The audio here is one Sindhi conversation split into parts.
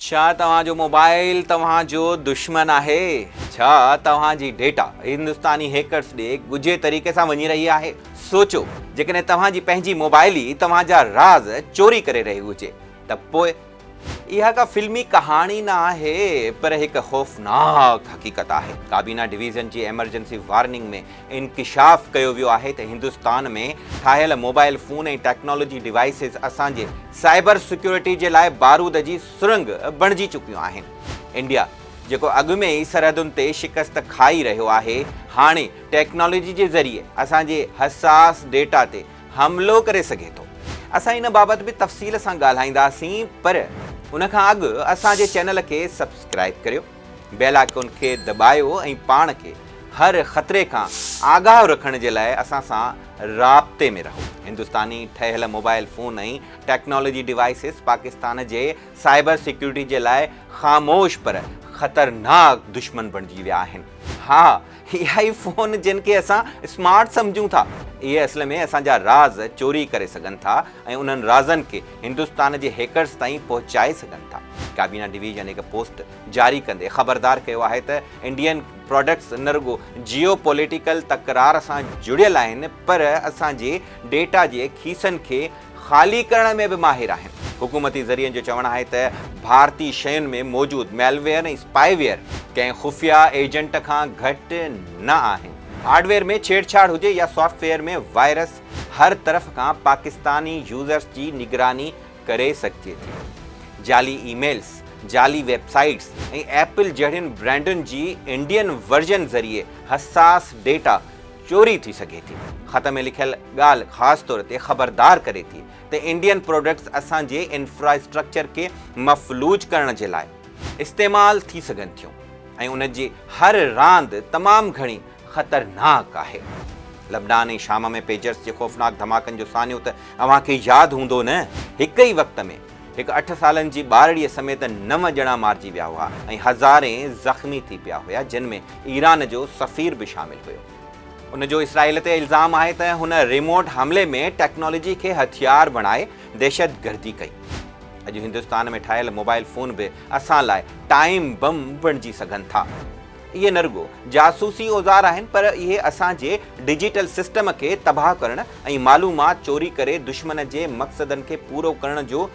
ڇا توهان جو موبائيل توهان جو دشمن آهي؟ ڇا توهان جي ڊيٽا هندستاني هيڪرز ڏي ڳجهي طريقي سان وڃي رهي آهي؟ سوچو، جيڪڏهن توهان جي پنهنجي موبائيل ئي توهان جا راز چوري ڪري رهي هجي ته پوء؟ اها ڪا فلمي ڪهاڻي نه آهي پر هڪ خوفناڪ حقيقت آهي. ڪابينا ڊويزن جي ايمرجنسي وارننگ ۾ انڪشاف ڪيو ويو آهي ته هندستان ۾ ٺاهيل موبائل فون ۽ ٽيڪنالاجي ڊوائسز اسان جي سائبر سيڪيورٽي جي لاء بارود جي سرنگ بڻجي چڪيون آهن. انڊيا جيڪو اڳ ۾ ئي سرحدن تي شڪست کائي رهيو آهي، هاڻي ٽيڪنالاجي جي ذريعي اسان جي حساس ڊيٽا تي حملو ڪري سگهي ٿو. اسان ان بابت به تفصيل سان ڳالهائينداسين پر ان کان اڳ اسان جي چينل کي سبسڪرائيب ڪريو. بيلا کي ان کي دٻايو ۽ پاڻ کي هر خطري کان آگاهه رکڻ جي لاء اسان سان رابطي ۾ رهو. هندستاني ٺهيل mobile phone ۽ technology devices Pakistan جي سائبر سيڪيورٽي جي لاء خاموش پر خطرناڪ دشمن بڻجي ويا آهن. ها اها ئي فون جن کي اسان اسمارٽ سمجهون ٿا، اهي اصل ۾ اسان جا راز چوري ڪري سگهن ٿا ۽ انهن رازن کي هندستان جي هيڪرز تائين پهچائي سگهن ٿا. ڪابينا ڊويزن هڪ پوسٽ جاري ڪندي خبردار ڪيو آهي ته انڊين پراڊڪٽس نه رڳو جيو پوليٽيڪل تڪرار سان جڙيل آهن پر اسان جي ڊيٽا جي کيسن کي خالي ڪرڻ ۾ به ماهر آهن. حڪومتي ذريعن جو چوڻ آهي ته ڀارتي شين ۾ موجود ميلويئر ۽ اسپائي ويئر ڪنهن خفيه ايجنٽ کان گهٽ نه آهن. هارڊ ويئر ۾ ڇيڙ ڇاڙ هجي يا سافٽ ويئر ۾ وائرس هر طرف کان پاڪستاني يوزرز جي نگراني ڪري سگهجي ٿي. جعلي اي ميلز، جعلي ويب سائيٽس ۽ ايپل جهڙين برانڊن جي انڊين ورجن ذريعي حساس ڊيٽا چوري ٿي سگهي ٿي. خط ۾ لکيل ڳالهه خاص طور تي خبردار ڪري ٿي ته انڊين پروڊڪٽس اسان جي انفراسٽرڪچر کي مفلوج ڪرڻ جي لاء استعمال ٿي سگهن ٿيون ۽ ان جي هر راند تمام گهڻي خطرناڪ آهي. لبنان ۽ شام ۾ پيجرز جي خوفناڪ ڌماڪن جو سانحو ته اوهان کي ياد هوندو نه؟ هڪ ئي وقت ۾ هڪ اٺ سالن جي ٻارڙيء سميت نو ڄڻا مارجي ويا هئا ۽ هزارين زخمي ٿي پيا هيا جن ۾ ايران جو سفير به شامل هيو. ان جو اسرائيل تي الزام آهي ته هن ريموٽ حملي ۾ ٽيڪنالاجي کي هٿيار بڻائي دهشتگردي ڪئي. اڄ هندستان ۾ ٺاهيل موبائل فون به اسان لاء ٽائيم بم بڻجي سگهن ٿا. اهي نه رڳو جاسوسي اوزار آهن پر اهي اسان جي ڊجيٽل سسٽم کي تباهه ڪرڻ ۽ معلومات چوري ڪري دشمن جي مقصدن کي پورو ڪرڻ جو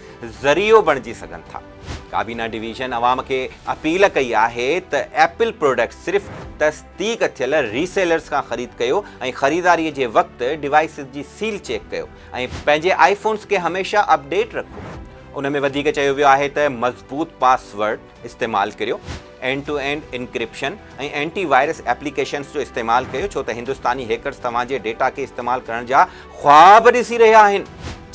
ذريعو بڻجي سگهن ٿا. ڪابينا ڊويزن عوام کي اپيل ڪئي آهي ته ايپل پراڊڪٽس صرف تصديق ٿيل ري سيلرز کان خريد ڪيو ۽ خريداري جي وقت ڊوائسز جي سيل چيڪ ڪيو ۽ پنهنجي آئي فونز کي هميشه اپ ڊيٽ رکو. ان ۾ وڌيڪ چيو ويو آهي ته مضبوط پاس ورڊ استعمال ڪريو. End to end encryption ۽ antivirus applications جو استعمال ڪيو ڇو ته هندستاني هيڪرز توهان جي ڊيٽا کي استعمال ڪرڻ جا خواب ڏسي رهيا آهن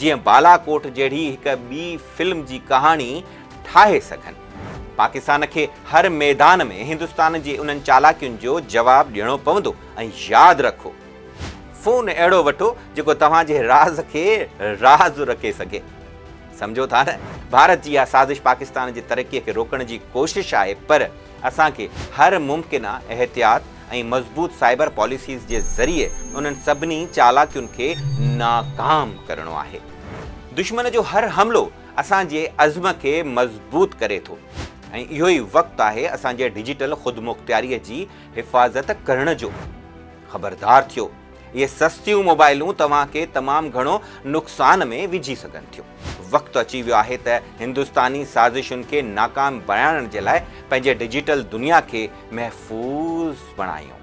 جيئن بالاڪوٽ جهڙي هڪ ٻي فلم جي ڪهاڻي ٺاهي سگهن. پاڪستان کي هر ميدان ۾ هندستان جي انهن چالاڪين جو جواب ڏيڻو پوندو ۽ ياد رکو. فون اهڙو وٺو جيڪو توهان جي راز کي راز رکي سگهي. سمجهو ٿا نه ڀارت جي اها سازش پاڪستان جي ترقي کي روڪڻ جي ڪوشش آهي پر اسان کي هر ممڪنه احتياط ۽ مضبوط سائبر پاليسيز جي ذريعي انهن سڀني چالاڪين کي ناڪام ڪرڻو آهي. دشمن جو هر حملو اسان جي عزم کي مضبوط ڪري ٿو ۽ اهو ئي وقت آهي اسان جي ڊجيٽل خودمختياري جي حفاظت ڪرڻ جو. خبردار ٿيو! اهي سستيون موبائلون توهان کي تمام گهڻو نقصان ۾ وجهي سگهن ٿيون. وقت اچي ويو آهي ته هندستاني سازشن کي ناڪام بڻائڻ جي لاء پنهنجي ڊجيٽل دنيا کي محفوظ بڻايون.